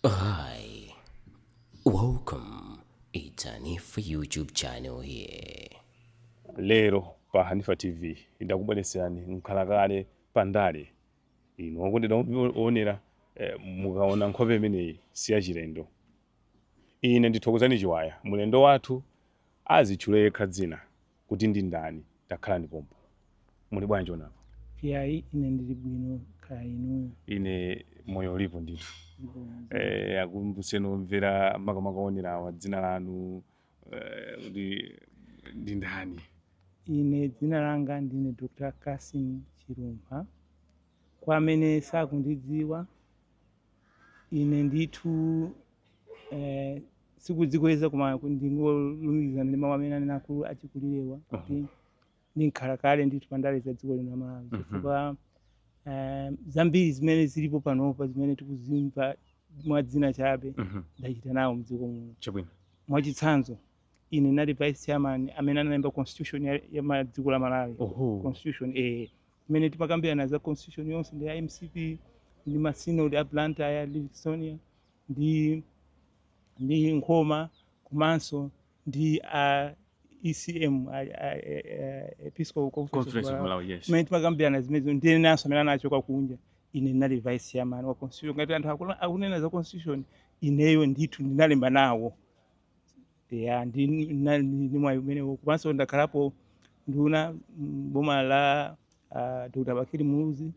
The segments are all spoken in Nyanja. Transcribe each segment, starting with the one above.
Hi, welcome. It's Hanifa YouTube channel here. lero pa hanifa tv ndakubweretserani mkhalakale pa ndale inu okondedwa oonera eh, mukaona nkhope imeneyi si yachilendo ine ndi Thokozani Chiwaya mulendo wathu azitchule yekha dzina kuti ndi ndani. Takhala ndi pompo. Muli bwanji onapa? Iyayi, ine ndili bwino kaya inuyo. Ine moyo ulipo ndithu. Eh, akumbuseni omvera makamaka onerawa dzina lanu eh, kuti ndi ndani? Ine dzina langa ndine Dr. Cassim Chilumpha. Kwa amene sakundidziwa, ine ndithu eh, sikudzikweza koma ndingolumikizana ndi mawu amene anena akulu achikulirewa kuti ndi mkhalakale ndithu pa ndale za dziko lino la malawi Mhm. chifukwa eh, zambiri zimene zilipo panopa zimene tikuzimva mwa dzina chabe Mhm. ndachita nawo mdziko muno chabwino mwachitsanzo ine ndinali vice chairman amene analemba constitution ya, ya ma- dziko la malawi oho constitution eh, Zimene timakambirana za constitution yonse ndi a mcp ndi ma synod a Blantyre, Livingstonia ndi ndi Nkhoma komanso ndi a ECM a, a, a, a Episcopal Conference of Conference of Malawi. Malawi, yes. Mmene timakambirana zimenezo ndi enanso amene anachoka kunja ine ndinali vice chairman wa constitution ngati anthu akuna- akunena za constitution ineyo ndithu ndinalemba nawo ya ndi na- ndi mwayi umenewo komanso ndakhalapo nduna m'boma la uh, dr bakili muluzi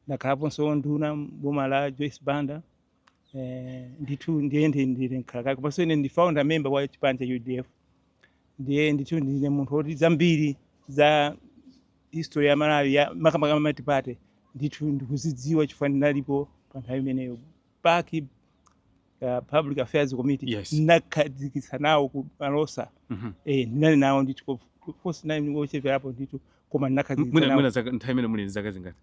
ndakhalaponso nduna m'boma la joyce banda eh, ndithu ndiye ndi- ndili mkhalakale komanso ine ndi founder member wa chipani cha udf ndiye ndithu ndine munthu woti zambiri za history ya malawi ya makamaka matipate ndithu ndikuzidziwa chifukwa ndinalipo pa nthawi imeneyo pac uh, public affairs committee Yes. ndinakhazikitsa nawo ku malosa Mhm. eh, ndinali nawo ndithu ko- kosi ndinali wocheperapo ndithu koma ndinakhazikitsa mwina nawo mwina zaka nthawi imeneyo muli ndi zaka zingati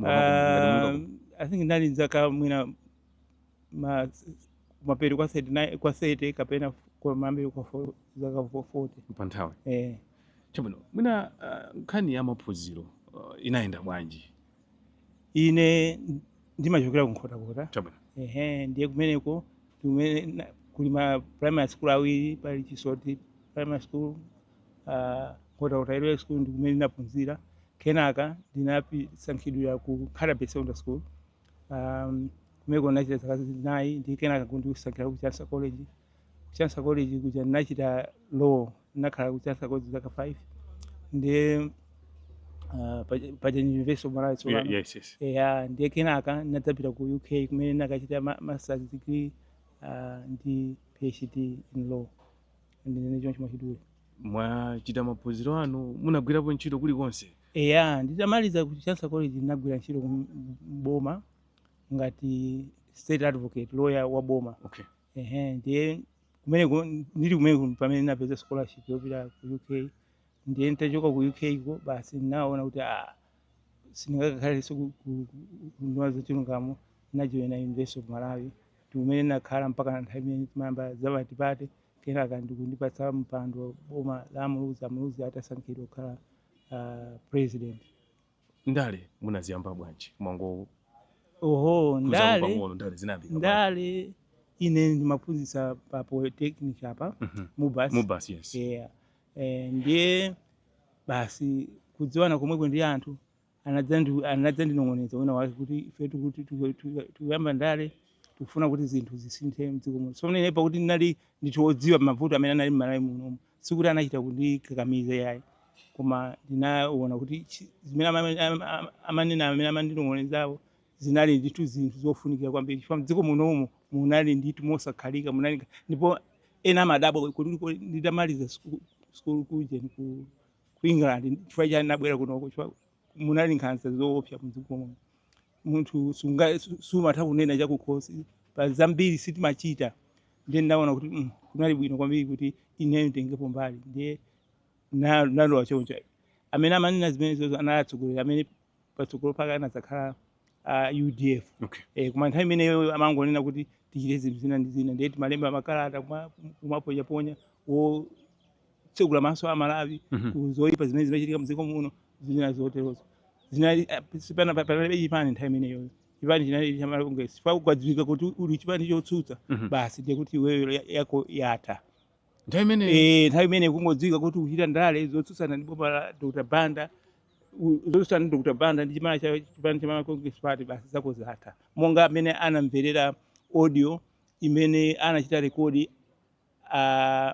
Ah, i think ndinali zaka mwina ma- mapeto kwa 39 kwa 30 kapena kwa mambe kwa fo- zaka 40 pa nthawi eh. chabwino mwina ah, nkhani ya maphunziro ah, inayenda bwanji Ine ndimachokera ku Nkhotakota. Chabwino. Ehe, ndiye kumeneko kumene na- kuli ma primary school awiri pali Chisoti primary school ah, Nkhotakota LEA school ndi kumene ndinaphunzira. Kenaka ndinasankhidwira ku Nkhatabay Secondary School. Um, kumeneko ndinachita zaka zinayi ndi kenaka kundisankhira ku Chancellor College Chancellor College kuja ndinachita law, ndinakhala ku Chancellor College zaka 5 ndiye uh, paja- paja ni University of Malawi tsopano. Yeah, yes, yes. eya ndiye kenaka ndinadzapita ku uk kumene ndinakachita ma- masters degree uh, ndi phd in law ndinene choncho mwachidule mwachita maphunziro anu munagwirapo ntchito kulikonse eya nditamaliza ku chancellor college ndinagwira ntchito ku boma ngati state advocate lawyer wa boma okay ehe ndiye kumeneko ndili kumeneko pamene ndinapeza scholarship yopita ku uk ndiye nitachoka ku uk ko basi ndinaona kuti ah, sindingakakhalenso ku- ku- ku- kunduna ya za chilungamo ndinajoyina university of malawi ndikumene ndinakhala mpakana nthawi imene timayamba zamatipate kenaka ndikundipatsa mpando boma la muluzi amuluzi atasankhidwa kukhala ah, president ndale munaziyamba bwanji mwangowo oho ndale pang'ono ndale zinayambika bwanji? ndale ine ndimaphunzitsa pa polytechnic apa Mhm. mubas mubasi yes yeah. eh, ndiye basi kudziwana komweko ndi anthu anadzandi- anadzandinong'oneza wina wake kuti ife tikuti tiku- tiku- tikuyamba ndale tikufuna kuti zinthu zisinthe mdziko muno tsono ine pakuti ndinali ndithu odziwa mavuto amene anali mmalawi munomu Sikuti anachita kundikakamiza iyayi, koma ndinaona kuti chi- zimene ama- ama- ama- amanena amene amandinong'onezawo zinali ndithu zinthu zofunikira kwambiri chifukwa mdziko munomu munali ndithu mosakhalika munali nga- ndipo ena amadabwa kuti kuti nditamaliza siku- sikulu kujeni ku ku england chifukwa chani nabwera kunoko chifukwa munali nkhanza zoopsa mdziko muno munthu sunga su- sumatha kunena chakukhosi pa zambiri sitimachita ndiye ndinaona kuti mm, kunali bwino kwambiri kuti ineyo nditengepo mbali ndiye na- nalowa choncho amene amanena zimenezozo anali atsogoleri amene patsogolo pake anadzakhala a udf Okay. eh, koma nthawi imeneyo amangonena kuti tichite zinthu zina ndi zina ndiye timalemba makalata kuma- kumaponyaponya wo kutsegula maso a Malawi Mhm. ku zoipa zimene zimachitika mdziko muno zina zoterozo zinali eh, sipana- pa- panalibe chipani nthawi imeneyo chipani chinali cha Malawi Congress chifukwa kukadziwika kuti uli chipani chotsutsa Mhm. basi ndiye kuti iweyo ya- yako yatha nthawi imeneyo Eh, nthawi imene kungodziwika kuti ukuchita ndale zotsutsana ndi boma la dr banda u- zotsutsana ndi dr banda ndi chimana cha chipani cha Malawi congress party basi zako zatha monga amene anamverera audio imene anachita rekodi ah,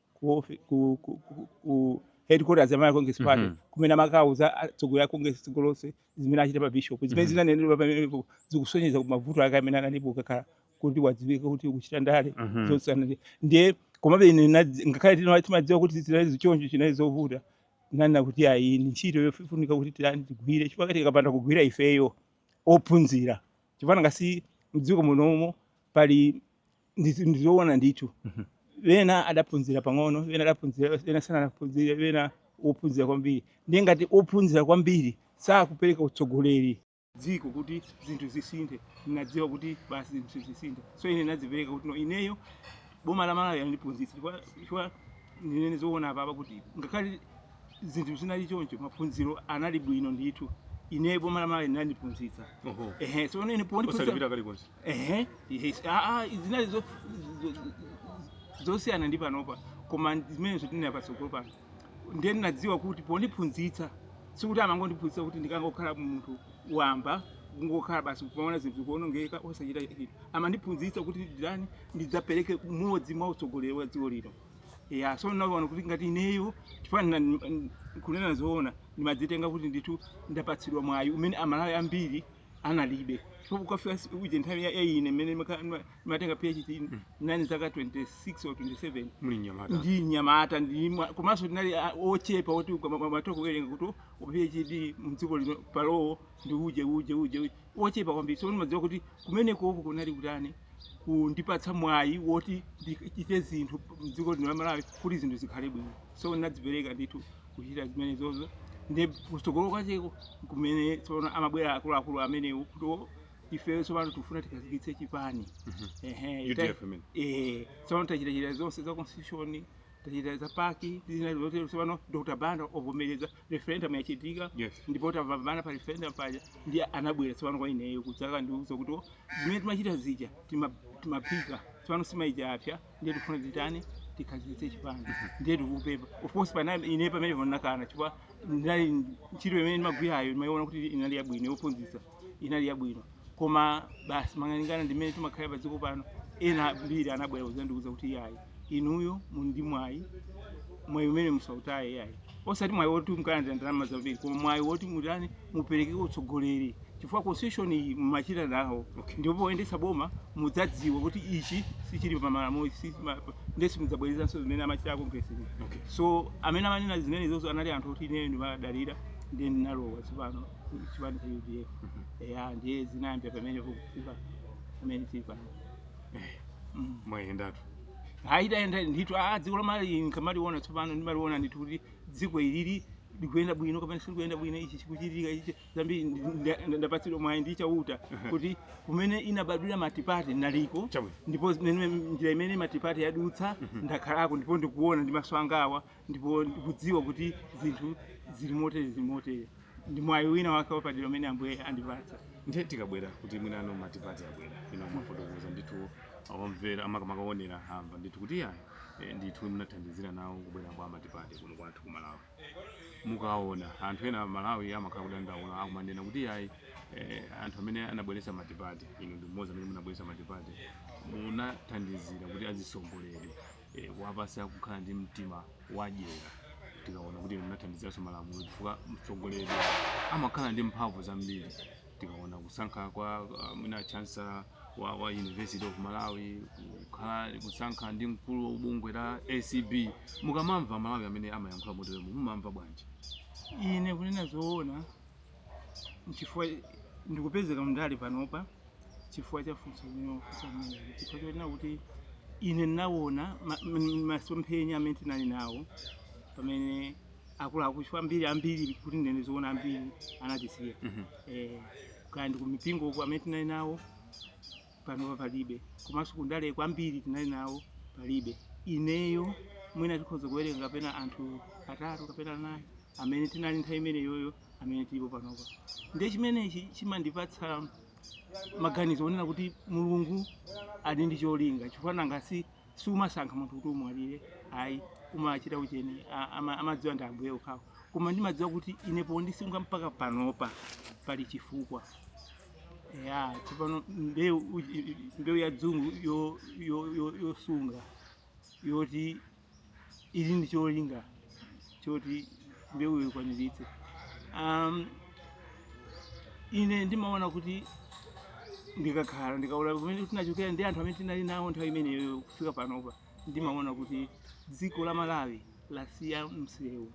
ku, ofi- ku, ku, ku, ku headquarters ya Malawi Congress Party Mhm. kumene amakawuza atsogoleri a Congress dziko lonse zimene achita pa bishop zimene Mhm. zinanenedwa pamenepo zikusonyeza ku mavuto ake amene analipo kukakhala kuti wadziwika kuti ukuchita ndale Mhm. zotsana ndi- ndiye komabe ine nadzi- ngakhale tina- timadziwa kuti zinali choncho chinali zovuta nanena kuti ayi ni ntchito yofunika kuti tilani tigwire chifukwa kati tikapanda kugwira ifeyo ophunzira chifukwa nanga si mdziko munomo pali ndizoona ndithu mhm. wena adaphunzira pang'ono wena adaphunzira wena sanaphunzire, wena ophunzira kwambiri ndiye ngati ophunzira kwambiri sakupereka utsogoleri dziko kuti zinthu zisinthe ndinadziwa kuti basi zinthu zisinthe so ine ndinadzipereka kuti no ineyo boma la malawi landiphunzitsa chifukwa ndinene zoona apapa kuti ngakhale zinthu zinali choncho maphunziro anali bwino ndithu ine boma la malawi linandiphunzitsa ehe so ine pondiphunzitsa ehe ehe, ah, ah, zinali zo- zo- zo- zosiyana ndi panopa koma zimenezo tinena, patsogolo pano ndiye ndinadziwa kuti pondiphunzitsa sikuti amangondiphunzitsa kuti ndikangokhala munthu wamba kungokhala basi kumaona zinthu zikuonongeka osachita chinthu amandiphunzitsa kuti nditani ndidzapereke umodzi mwa utsogoleri wa dziko lino ya so ndinaona kuti ngati ineyo chifukwa ndina- n- kunena zoona ndimadzitenga kuti ndithu ndapatsidwa mwayi umene amalawi ambiri analibe so kukafika si- uje nthawi ya ya ine mmene ndimaka- ndima- ndimatenga phd nani zaka 26 or 27 muli mnyamata ndili mnyamata ndi mwa- komanso tinali a- ochepa oti timatha kuwerenga kuti phd mdziko lino pa law ndi uje uje uje uje. ochepa kwambiri so ndimadziwa kuti kumenekoko kunali kutani kundipatsa mwayi woti ndichite zinthu mdziko lino la malawi kuti zinthu zikhale bwino so ndinadzipereka ndithu kuchita zimenezozo ndi kutsogolo kwacheko kumene tsopano amabwera akuluakulu amenewo kuti "Oh, ifeyo tsopano tikufuna tikhazikitse chipani Ehe, ta- UDF imene. eh, tsopano tachitachita zonse za constitution tachita za pac zina zotero tsopano dr banda wavomereza referendum yachitika Yes. ndipo tapambana pa referendum paja ndiye anabwera tsopano kwa ineyo kudzandiuza kuti "Oh, zimene timachita zija tima- timaphika tsopano nsima ija yapsa ndiye tikufuna titani tikhazikitse chipani ndiye tikupempha of course ine pamenepo ndinakana chifukwa ndinali ntchito imene ndimagwirayo ndimayiona kuti inali yabwino yophunzitsa inali yabwino koma basi malingana ndi mmene timakhala pa dziko pano ena ambiri anabwera kuzandiuza kuti iyayi inuyo muli ndi mwayi mwayi umene musautaye iyayi osati mwayi woti mukalandira ndalama zambiri koma mwayi woti mutani mupereke utsogoleri chifukwa constitution iyi mumachita nawo okay. ndipo poyendetsa boma mudzadziwa kuti ichi sichili pa malamulo ichi sichili pa- ndiye simudzabwerezanso zimene amachita congress iyi. Okay. so amene amanena zimenezozo anali anthu oti ineyo ndimadalira ndiye ndinalowa tsopano chipani cha udf eya ndiye zinayambira pamenepo kufika pamene tili pano Mm. mwayendatu ayi tayenda ndithu a dziko la malawi nkamaliona tsopano ndimaliona ndithu kuti dziko ilili likuyenda bwino kapena silikuyenda bwino ichi chikuchitika ichi zambiri ndi- ndi- ndapatsidwa mwayi ndi chauta kuti kumene inabadwira multiparty naliko Chabwino. ndipo zimene njira imene multiparty yadutsa ndakhalako ndipo ndikuona ndi maso angawa ndipo ndikudziwa kuti zinthu zili motere zili motere ndi mwayi wina wake wapadera umene ambuye andipatsa ndiye tikabwera kuti mwinano matipati abwera inu mafotokoza ndithu omvera amakamaonera amamva ndithu kuti yayi eh, ndithu munathandizira nawo kubwera kwa matipati kuno kwathu ku malawi mukaona anthu ena malawi amakhala kudandaula akumanena kuti yayi eh, anthu amene anabweretsa matipati inu ndi mmodzi amene munabweretsa matipati munathandizira kuti azitsogoleri e, kuwapasa kukhala ndi mtima wadyera tikaona kuti munathandiziranso malamulo chifukwa mtsogoleri amakhala ndi mphamvu zambiri tikaona kusankha kwa uh, mwina chancellor wa, wa university of malawi kukhala kusankha kwa mkulu wa bungwe la acb mukamamva amalawi amene amayankhula moteremo mumamva bwanji ine kunena zoona nchifukwa ndikupezeka kundale panopa chifukwa cha funso limene wafunsa limeneli chifukwa chonena kuti ine ndinawona ma- m- masomphenya amene tinali nawo pamene akuluakulu chifukwa ambiri ambiri kuti ndinene zoona ambiri anatisiya Mhm. eh, kaya ndi kumipingo uko amene tinali nawo panopa palibe komanso kundale kwambiri tinali nawo palibe ineyo mwina tikhoza kuwerenga kapena anthu atatu kapena anayi amene tinali nthawi imeneyoyo amene tilipo panopa ndiye chimenechi chimandipatsa maganizo onena kuti mulungu ali ndi cholinga chifukwa nanga si siumasankha munthu kuti umwalire ayi umachita ucheni a- ama- amadziwa ndi ambuye okhao koma ndimadziwa kuti ine pondisunga mpaka panopa pali chifukwa ya tsopano mbewu uji- mbewu ya dzungu yo- yo- yo- yosunga yoti ili ndi cholinga choti mbewuyo ikwaniritse um, ine ndimaona kuti ndikakhala ndikaona kumene tinachokera ndi anthu amene tinali nawo nthawi imeneyo kufika panopa ndimaona kuti dziko la malawi lasiya msewu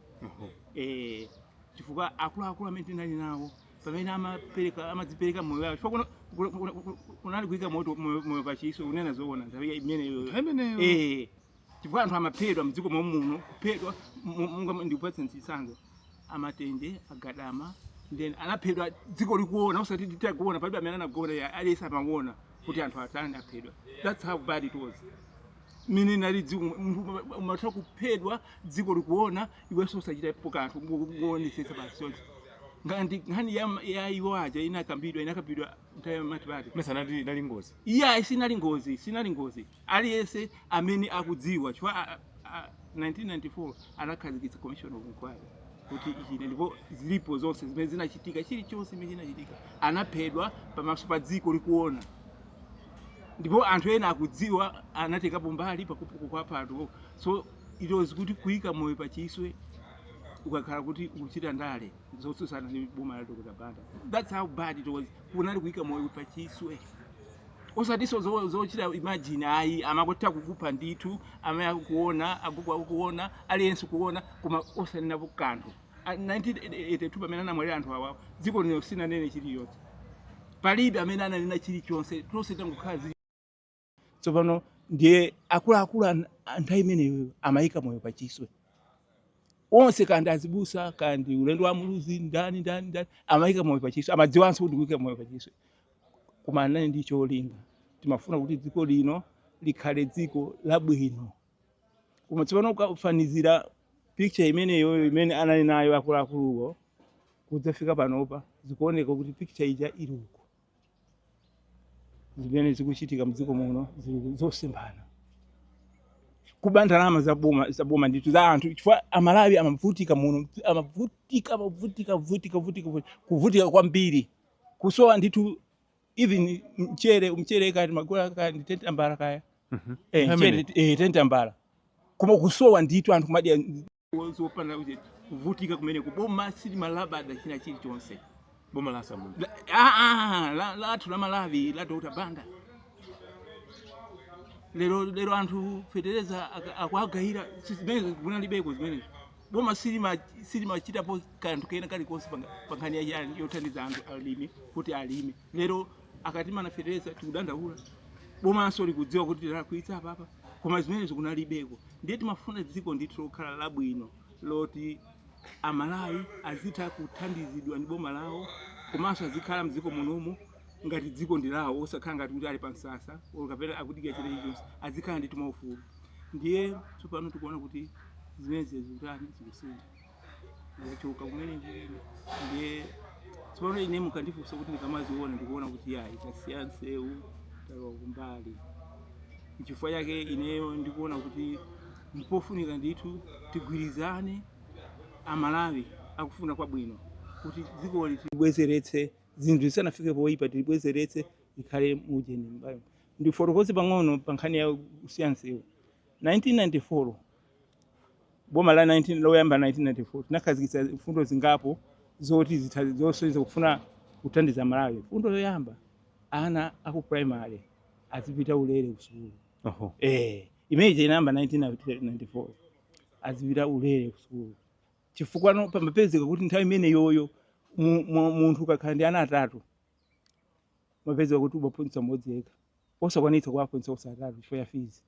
eh, chifukwa akuluakulu amene tinali nawo pamene amapereka amadzipereka moyo wawo chifukwa kuno- kuno- kuno- kunali kuika moto moyo moyo pachiswe kunena zoona nthawi imeneyo imeneyo Eh, chifukwa anthu amaphedwa mdziko mwamuno kuphedwa monga ndikupatsa chitsanzo a matenje a gadama then anaphedwa dziko likuona usati titakuona palibe amene anagona ya aliyense amawona kuti anthu atani aphedwa that's how bad it was mene nali dziko umatha kuphedwa dziko likuona iwenso usachitapo kanthu ngoonetsetsa basi choncho ngati nkhani ya, ya iwo aja inakambidwa inakambidwa nthawi ya matipati mesa nali nali ngozi iya sinali ngozi sinali ngozi Aliyense amene akudziwa chifukwa 1994 anakhazikitsa commission of inquiry kuti ichite ndipo zilipo zonse zimene zinachitika, chilichonse chimene chinachitika, anaphedwa pamaso pa dziko likuona, ndipo anthu ena akudziwa anatengapo mbali pakupha anthuwo, so it was kuti kuika moyo pa chiswe ukakhala kuti ukuchita ndale zotsutsana ndi boma la Dr. Banda. That's how bad it was, kunali kuika moyo pa chiswe. osatinso zo- zochita imagine ayi amakutha kukupha ndithu amayi akukuona agogo akukuona aliyense kuona koma osanenapo kanthu A- 1982 pamene anamwalira anthu awawo dziko lino sinanene chiliyonse palibe amene ananena chilichonse tonse tangokhala zii tsopano ndiye akuluakulu an- a nthawi imeneyo amayika moyo pachiswe onse kandi azibusa kandi ulendo wa muluzi ndani ndani ndani amayika moyo pachiswe amadziwanso kuti kuyika moyo pachiswe koma anali ndi cholinga timafuna kuti dziko lino likhale dziko labwino koma tsopano ukafanizira picture imeneyoyo imene anali nayo akuluakuluwo kudzafika panopa zikuoneka kuti picture ija ili uko zimene zikuchitika mdziko muno zili zosemphana kuba ndalama za boma za boma ndithu za anthu chifukwa amalawi amavutika muno amavutika amavutika vutika vutika vutika, kuvutika kwambiri kusowa ndithu even mchere mchere kaya timagula kaya ndi tentambala kaya Mhm. eh, How mchere many? eh, tentambala koma kusowa ndithu anthu kumadya zopanda kuti kuvutika kumeneko boma sili malabada china chilichonse boma la samuti La- ah, ah, la- lathu la malawi la dr banda lero lero anthu fetereza aka- akuagayira si zimene kunalibeko zimenezi boma silima- silimachitapo kanthu kena kalikonse pa- pa nkhani ya chani yothandiza anthu alimi kuti alime lero akati mafetereza tikudandaula bomanso likudziwa kuti tilakwitsa apapa koma zimenezo kunalibeko ndiye timafuna dziko ndithu lokhala labwino loti amalawi azitha kuthandizidwa ndi boma lawo komanso azikhala mdziko munomo ngati dziko ndi lawo osakhala ngati kuti ali pa msasa kapena akudikira chilichonse azikhala ndi timaufulu ndiye tsopano tikuona kuti zimenezi zikutani zikusintha zikuchoka kumene ndiye tsopano ine mukandifunsa kuti ndikamaziona ndikuona kuti yayi tasiya nsewu talowa kumbali nchifukwa chake ineyo ndikuona kuti mpofunika ndithu tigwirizane amalawi akufuna kwabwino kuti dzikoli tilibwezeretse zinthu zisanafike poyipa tilibwezeretse likhale mujeni mbayo Ndifotokoze pang'ono pa nkhani ya kusiya nsewu. 1994, boma la 19 loyamba la 1994 tinakhazikitsa mfundo zingapo zoti zitha- zosonyeza kufuna kuthandiza Malawi. Mfundo yoyamba, ana a ku primary azipita ulere ku sukulu. Oho. Eh, imene inayamba 1994 azipita ulere ku sukulu chifukwa no- pamapezeka kuti nthawi imeneyoyo mu- mu- munthu ukakhala ndi ana atatu mapezeka kuti umaphunzitsa mmodzi yekha osakwanitsa kuwaphunzitsa onse atatu chifukwa cha fees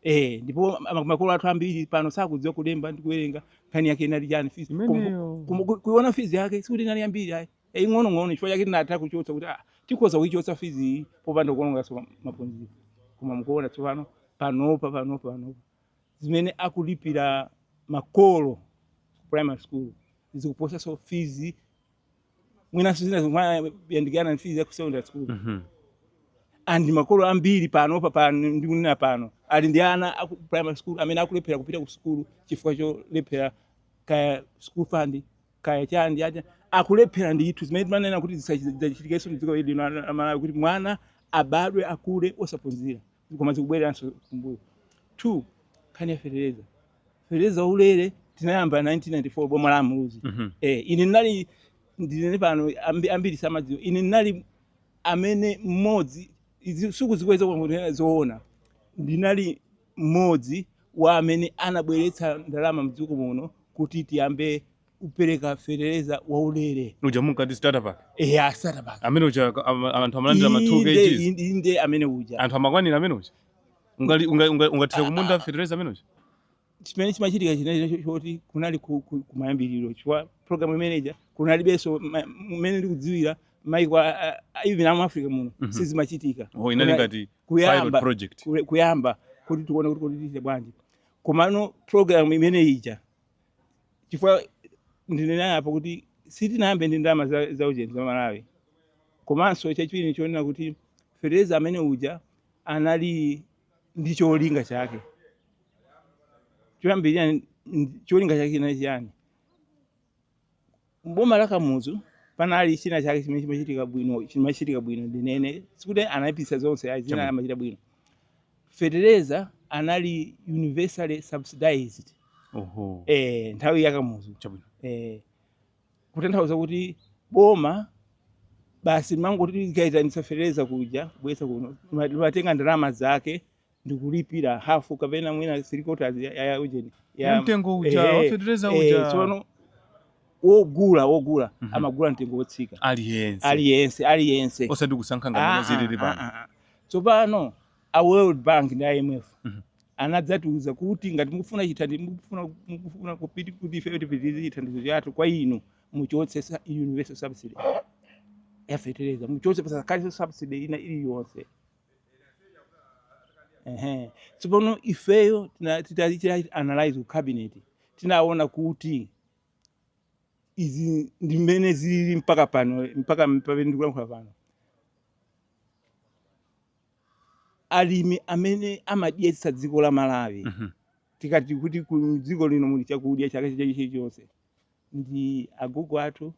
eh ndipo ama- makolo athu ambiri pano sakudziwa kulemba ndi kuwerenga nkhani yake inali chani fees Kum- Imeneyo. kum- ku- kuiona fees yake sikuti inali yambiri ayi ing'onong'ono chifukwa chake tinatha kuchotsa kuti ah, tikhoza kuichotsa fees iyi popanda kuononganso ma- maphunziro koma mukuona tsopano panopa panopa panopa zimene akulipira makolo ku primary school zikuposanso fees mwinanso zina zimayandikana ndi fees ya ku secondary school Mhm. and makolo ambiri pano pa pano ndikunena pano ali ndi ana aku primary school amene akulephera kupita ku sukulu chifukwa cholephera kaya school fund kaya chani aja akulephera ndithu zimene timanena kuti zisachitikenso mdziko ili lino la Malawi kuti mwana abadwe akule osaphunzira koma zikubwereranso kumbuyo two nkhani ya fetereza fetereza waulere tinayamba 1994 boma la a Muluzi Mhm. eh, ine ndinali ndinene pano ambi- ambiri samadziwa ine ndinali amene mmodzi izi- sikudzikweza kungonena zoona ndinali mmodzi wa amene anabweretsa ndalama mdziko muno kuti tiyambe kupereka fetereza waulere uja munkati starter pack eya starter pack amene uja ak- ama- anthu amalandira ma 2 Inde- kgs inde- inde amene uja anthu amakwanira amene uja Ungali- unga- unga- ungathire kumunda fetereza amene uja chimene chimachitika chinali choti kunali ku- ku- kumayambiriro chifukwa program imeneja kunalibenso ma- mmene ndikudziwira maiko a- a- a- even amu africa muno Mhm. sizimachitika oh inali Kuna- ngati pilot kuyamba project kule- kuyamba kuti tione kuti kuti tichite bwanji komano program imene ija chifukwa ndinena apo kuti sitinayambe ndi ndalama za, za ujeni za malawi komanso chachiwiri nichonena kuti fetereza amene uja anali ndi cholinga chake choyambirira n- cholinga chake chinali chiyani m'boma la Kamuzu panali china chake chimene chimachitika bwino chimachitika bwino ndinene sikuti anayipitsa zonse ayi zina Chabwino. amachita bwino fetereza anali universally subsidized oho eh, nthawi ya Kamuzu chabwino eh, kutanthauza kuti boma basi limangoti likaitanitsa fetereza kuja kubweretsa kuno Lima- limatenga ndalama zake ndi kulipira hafu kapena mwina three quarters ya, ya ujeni Ya mtengo uja, ehe, wafetereza ehe, uja. tsopano wogula wogula Mhm. amagula mtengo wotsika aliyense aliyense aliyense osati kusankha ngati Ah, zilili ah, pano ah, ah. tsopano a world bank ndi imf Mhm. anadzatiuza kuti ngati mukufuna chithandizo mukufuna mukufuna kupiti kuti ife tipitirize chithandizo chathu kwa inu muchotse sa- universal subsidy yafetereza muchotse pasakhalenso subsidy ina iliyonse Ehe. Tsopano ifeyo tina- titachita analyze ku cabinet tinaona kuti izi ndi mmene zilili mpaka pano mpaka pamene ndikulankhula pano alimi amene amadyetsa dziko la malawi Mhm. tikati kuti m'dziko lino muli chakudya chaka chilichonse ndi agogo athu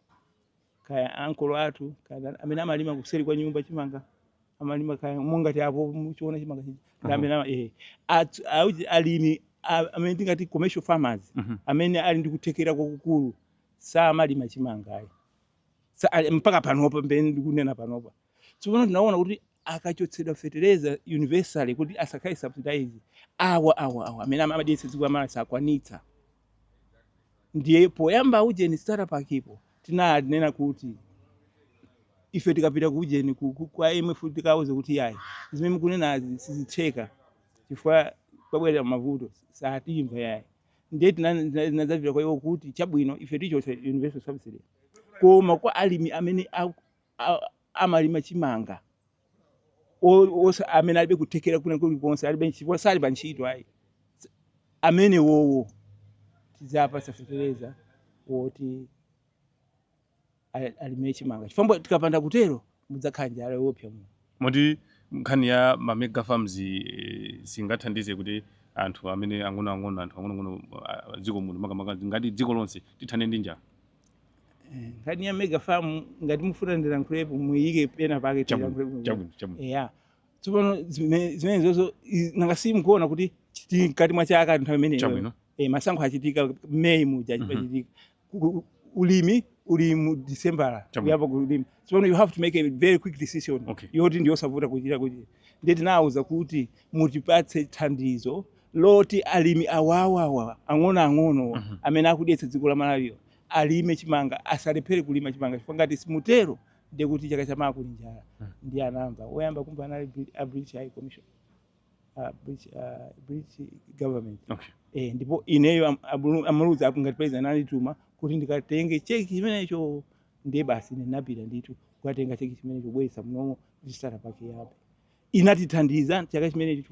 kaya ankolo athu kaya amene amalima kuseri kwa nyumba chimanga amalima kaya mungati apo muchiona chimanga chija ndi amene ama- eh, athu- auchi- alimi a- amene tingati commercial farmers Mhm. amene ali ndi kuthekera kwakukulu samalima chimanga ayi Sa- ali- mpaka panopa pamene ndikunena panopa Tsopano tinaona kuti akachotsedwa fetereza universally kuti asakhale subsidized awa awa awa amene amadyetsa dziko la malawi sakwanitsa ndiye poyamba ujeni starter pack po tinanena kuti ife tikapita ku ujeni ku- ku- kwa imf tikauze kuti yayi zimene mukunenazi sizitheka chifukwa pabwera mavuto satimva yayi ndiye tinadzapita kwa iwo kuti chabwino ife tichotsa universal subsidy koma kwa alimi amene aku- amalima chimanga amene alibe kuthekera kwina kulikonse alibe ntchito sali pa ntchito ayi amene wowo tidzawapatsa fetereza woti alime chimanga chifukwa tikapanda kutero mudzakhala njala yoopsa muno Moti nkhani ya ma mega farms yi singathandize kuti anthu amene ang'onoang'ono anthu ang'onoang'ono a dziko muno makamaka ngati dziko lonse tithane ndi njala. Nkhani ya mega farm ngati mufuna ndilankhulepo muiyike pena pake Chabwino, tilankhulepo. chabwino, chabwino. Eya. Tsopano zime- zimenezozo i- nanga simukuona kuti ndi mkati mwa chaka nthawi imeneyo. Chabwino. Eh, masankho achitika May muja achitika. ku- ku- ulimi uli mu disembala Chabwino. kuyamba kulima so you have to make a very quick decision Okay. yoti ndiyosavuta kuchita kuti ndiye tinawauza kuti mutipatse thandizo loti alimi awawawa ang'onoang'ono Mhm. amene akudyetsa dziko la malawiyo alime chimanga asalephere kulima chimanga chifukwa ngati simutero ndiye kuti chaka chamawa kuli njala Mhm. ndiye anamva woyamba kumva anali Brit- a british high commission uh, British, uh, British government okay. E, ndipo ineyo a Muluzi am, ngati president anandituma kuti ndikatenge cheki chimenecho ndiye basi ndinapita ndithu kukatenga cheki chimenecho kubweretsa munomo starter pack yabe inatithandiza chaka chimenecho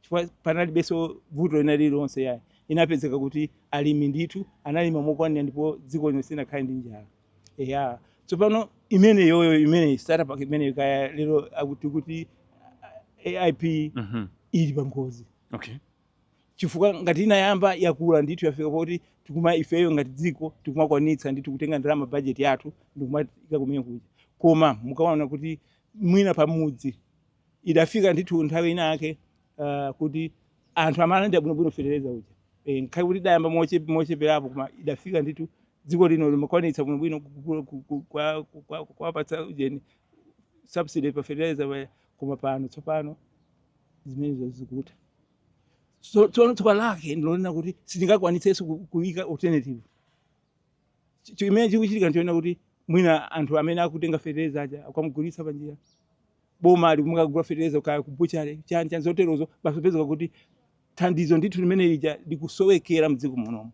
chifukwa panalibenso vuto lina lililonse yayi inapezeka kuti alimi ndithu analima mokwanira ndipo dziko lino sinakhale ndi njala eya tsopano imeneyoyo imene starter pack imene kaya lero akuti kuti ah, AIP Mhm. ili pa ngozi okay chifukwa ngati inayamba yakula ndithu yafika poti tikuma ifeyo ngati dziko tikumakwanitsa ndithu kutenga ndalama bajeti yathu ndikumaika kumene kuja koma mukaona kuti mwina pamudzi idafika ndithu nthawi ina yake uh, kuti anthu amalandira bwinobwino fetereza uja e, ngakhale kuti idayamba moche- mocheperapo koma idafika ndithu dziko lino limakwanitsa bwinobwino ku- ku- ku- ku- kwa- ku- kwa- kuwapatsa ujeni subsidy pa fetereza pa- koma pano tsopano zimenezo zikutha tsono tsoka lake ndilonena kuti sitingakwanitsenso ku- kuyika alternative chimene chikuchitika n'choona kuti mwina anthu amene akutenga fetereza aja akumugulitsa panjira boma ali kumakagula fetereza kaya kubutchale chani chani zoterozo basi upezeke kuti thandizo ndithu limene lija likusowekera m'dziko munomo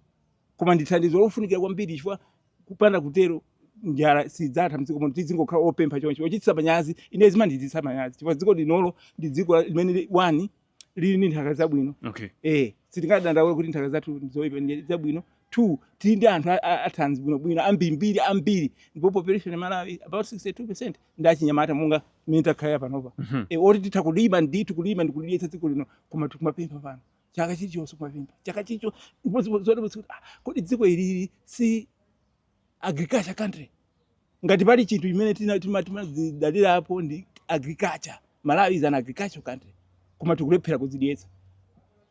koma ndi thandizo lofunikira kwambiri chifukwa kupanda kutero njala sidzatha m'dziko muno tidzingokhala opempha choncho ochititsa manyazi ine zimandichititsa manyazi chifukwa dziko linolo ndi dziko la- limene li- one lili ndi nthaka zabwino okay. eh, sitingadandaule kuti nthaka zathu ndi zoipa ndi zabwino two tili ndi anthu athanzi bwinobwino ambirimbiri ambiri ndipo population ya Malawi about 62 percent ndi achinyamata monga mmene takhalira panopa mm -hmm. e, eh, oti titha kulima ndithu kulima ndi kulidyetsa dziko lino koma tikumapempha pano chaka chilichonse kumapempha chaka chilichonse zoti ah, kodi dziko ilili si agriculture country ngati pali chinthu chimene tina- tima- timadzidalirapo ndi agriculture Malawi is an agriculture country koma tikulephera kudzidyetsa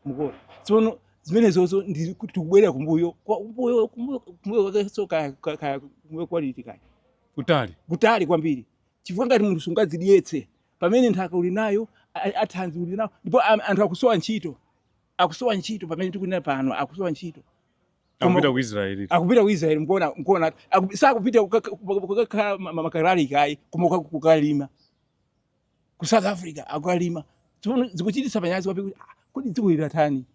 mukuona tsono zimenezozo ndi kuti tikubwerera kumbuyo kwa- kumbuyo kumbuyo- kumbuyo kwakenso kaya kaya- kaya kumbuyo kwaliti kaya kutali kutali kwambiri chifukwa ngati munthu sungadzidyetse pamene nthaka uli nayo a- athanzi uli nawo ndipo am- anthu akusowa ntchito akusowa ntchito pamene tikunena pano akusowa ntchito akupita ku Israel akupita ku Israel mukuona mukuona sakupita kukakhala makalaliki ayi koma kukalima ku South Africa akukalima tsono zikuchititsa manyazi kwambiri kuti ah, kodi dziko ili latani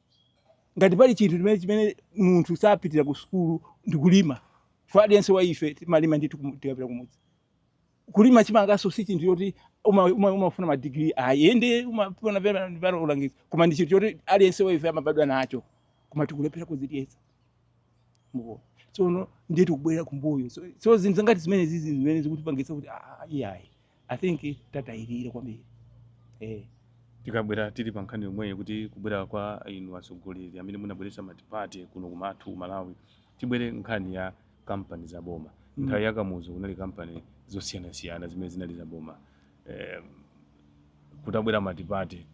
ngati pali chinthu chimene chimene munthu sapitira ku sukulu ndi kulima chifukwa aliyense wa ife timalima ndithu tikapita kumudzi kulima chimanganso si chinthu choti umafuna uma, uma, uma madigiri ayi ende umafuna pena ulangizi koma ndi chinthu choti aliyense waife amabadwa nacho koma tikulephera kuzidyetsa mukuona tsono ndiye tikubwerera kumbuyo so, so zinthu za ngati zimenezizi zimene zikutipangitsa kuti ah, iyayi i think tatayirira kwambiri eh. tikabwera tili pa nkhani yomweyo kuti kubwera kwa inu atsogoleri amene munabweretsa matipati kuno kwathu ku malawi tibwere nkhani ya kampani za boma mm. nthawi ya kamuzu kunali kampani zosiyanasiyana zimene zinali za boma eh, kutabwera matipati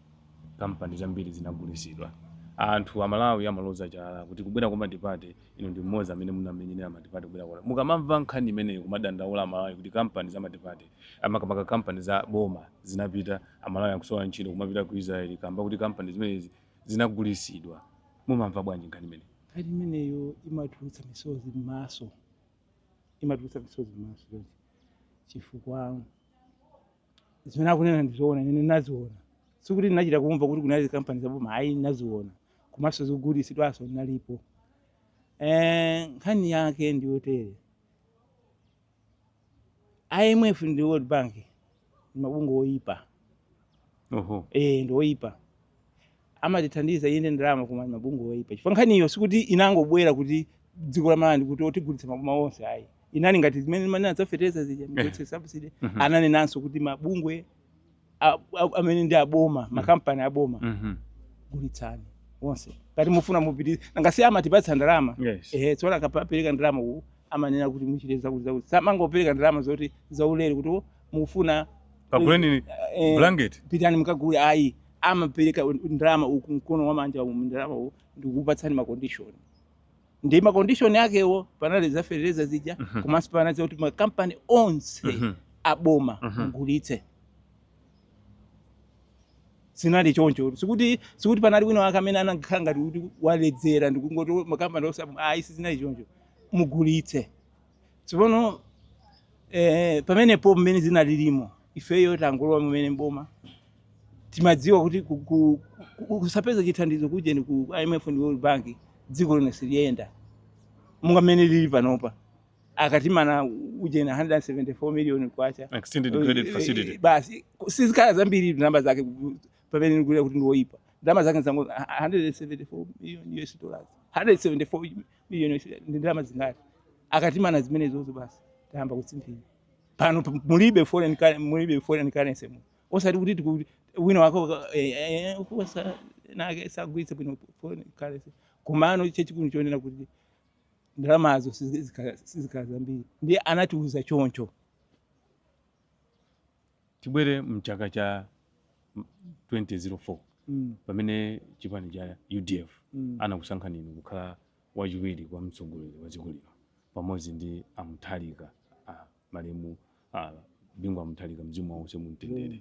kampani zambiri zinagulitsidwa anthu amalawi amaloza chala kuti kubwera kwa matipati inu ndi mmodzi amene munamenyera matipati kubwera kwa mukamamva nkhani imeneyo kumadandaula amalawi kuti kampani za matipati makamaka kampani za boma zinapita amalawi akusowa ntchito kumapita ku israeli kamba kuti kampani zimenezi zinagulitsidwa. Mumamva bwanji nkhani imeneyo? Nkhani imeneyo imatulutsa misozi m'maso, imatulutsa misozi m'maso chonchi chifukwa zimene akunena ndi zoona, ine ndinaziona. Sikuti ndinachita kumva kuti kunali kampani za boma, ayi ndinaziona, komanso zikugulitsidwanso ndinalipo. Eh, nkhani yake ndi yotere, IMF ndi World Bank ndi mabungwe oyipa oho eh ndi oyipa amatithandiza inde ndalama koma ndi mabungwe oyipa chifukwa nkhaniyo sikuti inangobwera kuti dziko la Malawi kuti tigulitsa maboma onse ayi inali ngati zimene mmanena za feteleza zija mugwetse subsidy Mhm. ananenanso kuti mabungwe amene ndi aboma mm. makampani aboma mm -hmm. gulitsani onse ngati mufuna mupitirize ngati si amatipatsa ndalama yes. ehe tsono akapereka ndalama uku amanena kuti muchite zakuti zakuti samangopereka ndalama zoti zaulere kuti mufuna kaguleni eh, eh, blanket pitani mukagule ayi amapereka ndalama uku mkono wamanja ndalama uku ndikukupatsani macondition ndi ma condition akewo panali za fertilizer zija Mhm. komanso panali za kuti ma company onse Mhm. aboma Mhm. mugulitse zinali choncho sikuti sikuti panali wina wake amene anakhala ngati kuti waledzera ndikungoti makampani onse ayi sizinali choncho mugulitse Tsopano eh, pamenepo mmene zinalilimo ifeyo tangolowa kumene m'boma timadziwa kuti ku- ku- ku- kusapeza chithandizo kujeni ku IMF ndi World Bank dziko lino siliyenda monga mmene lili panopa akatimana ujeni 174 million kwacha Extended credit Eh, facility. eh, basi sizikhala zambiri ndalama zake ku- pamene ndikuti kuti ndiwoyipa ndalama zake nzango 174 million US dollars 174 million ndi ndalama zingati akatimana zimenezozo basi tayamba kutsimphina pano p- mulibe foreign cur- mulibe foreign currency mu osati kuti tiku- wina wako ka- eh, eh, kuposa nake sagwiritse bwino foreign currency komano chachikulu chonena kuti ndalamazo sizikhala sizikhala zambiri ndiye anatiuza choncho Tibwere mchaka cha 2004 mm. pamene chipani cha UDF mm. anakusankhani inu kukhala wachiwiri kwa mtsogoleri wa dziko lino pamodzi ndi a Mutharika malemu a Bingu wa Mutharika mzimu wawo use mumtendere mm.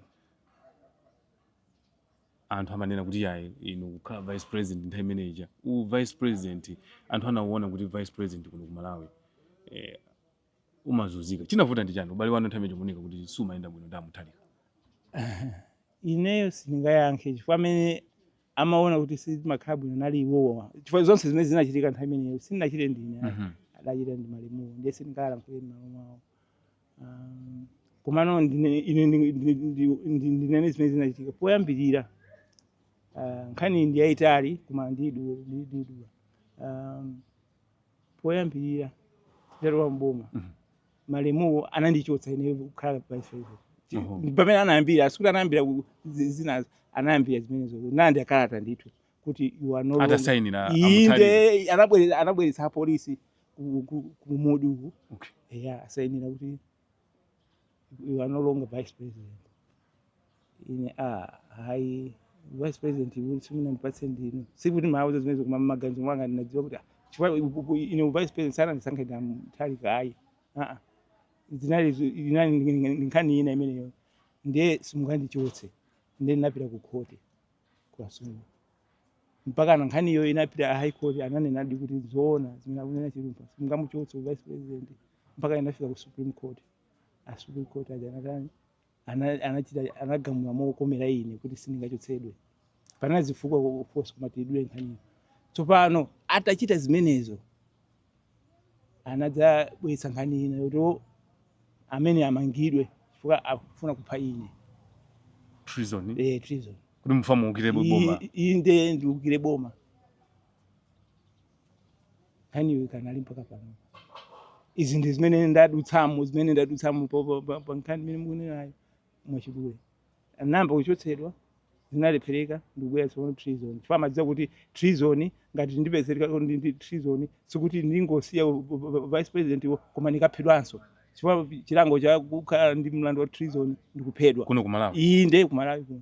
anthu amanena kuti yayi inu kukhala vice president nthawi imene ija u vice president anthu anauona kuti vice president kuno ku Malawi eh, umazunzika chinavuta ndi chani ubale wanu nthawi imene ija chikuoneka kuti sumayenda bwino ndi a Mutharika ineyo sindingayankhe chifukwa amene amaona kuti sizimakhala bwino nali iwowo chifukwa zonse zimene zinachitika nthawi imeneyo sindinachite ndine ayi. Mhm. adachita ndi malemuwo ndiye sindingawalankhulire mmalo mwawo Um, komano ndine- ine ndi- ndi- ndi- ndi- ndinene zimene zinachitika poyambirira ah, nkhani ndi yayitali koma ndidula poyambirira nditalowa m'boma Mhm. malemuwo anandichotsa ine kukhala vice Oho. president pamene anayambira sikuti anayambira ku- zi- zinazo anayambira zimenezo anandilembera kalata ndithu kuti you are no longer- atasainira a Mutharika inde anabwere- anabweretsa apolisi ku- ku- ku Mudi uku Okay. eya asainira kuti you are no longer vice president ine a hayi vice president ine simunandipatse ndinu sikuti ndimawauza zimenezo koma mmaganizo mwanga ndinadziwa kuti ah, chifukwa u- u- u- ine u vice president sanandisankhe ndi a Mutharika ayi aa zinali zu- inali ndi- ndi- ndi nkhani ina imeneyo ndiye simungandichotse ndiye ndinapita ku khoti kwa sulu mpakana nkhaniyo inapita ku high court ananenadi kuti zoona zimene akunena Chilumpha simungamuchotse u vice president mpaka inafika ku supreme court a supreme court aja anatani ana- anachita anagamula mokomera ine kuti sindingachotsedwe panali zifukwa of course komatu ndidule nkhaniyo tsopano atachita zimenezo anadzabweretsa nkhani ina yoti "Oh, ameneyu amangidwe chifukwa akufuna kupha ine treason eh, treason kuti mukufuna muukire boma I- i- inde ndiukire boma nkhaniyo ikanali mpaka pano izi ndi zimene ndadutsamo zimene ndadutsamo pa- pa- pa- pa nkhani imene mukunenayo mwachidule ndinayamba kuchotsedwa zinalephereka ndikubwera tsopano treason chifukwa amadziwa kuti treason ngati ndipezereka ndi ndi treason sikuti ndingosiya u- u- u- vice presidentwo koma ndikaphedwanso chifukwa chilango cha kukhala ndi mlandu wa treason ndikuphedwa kuno ku malawi iyi nde kumalawi kuno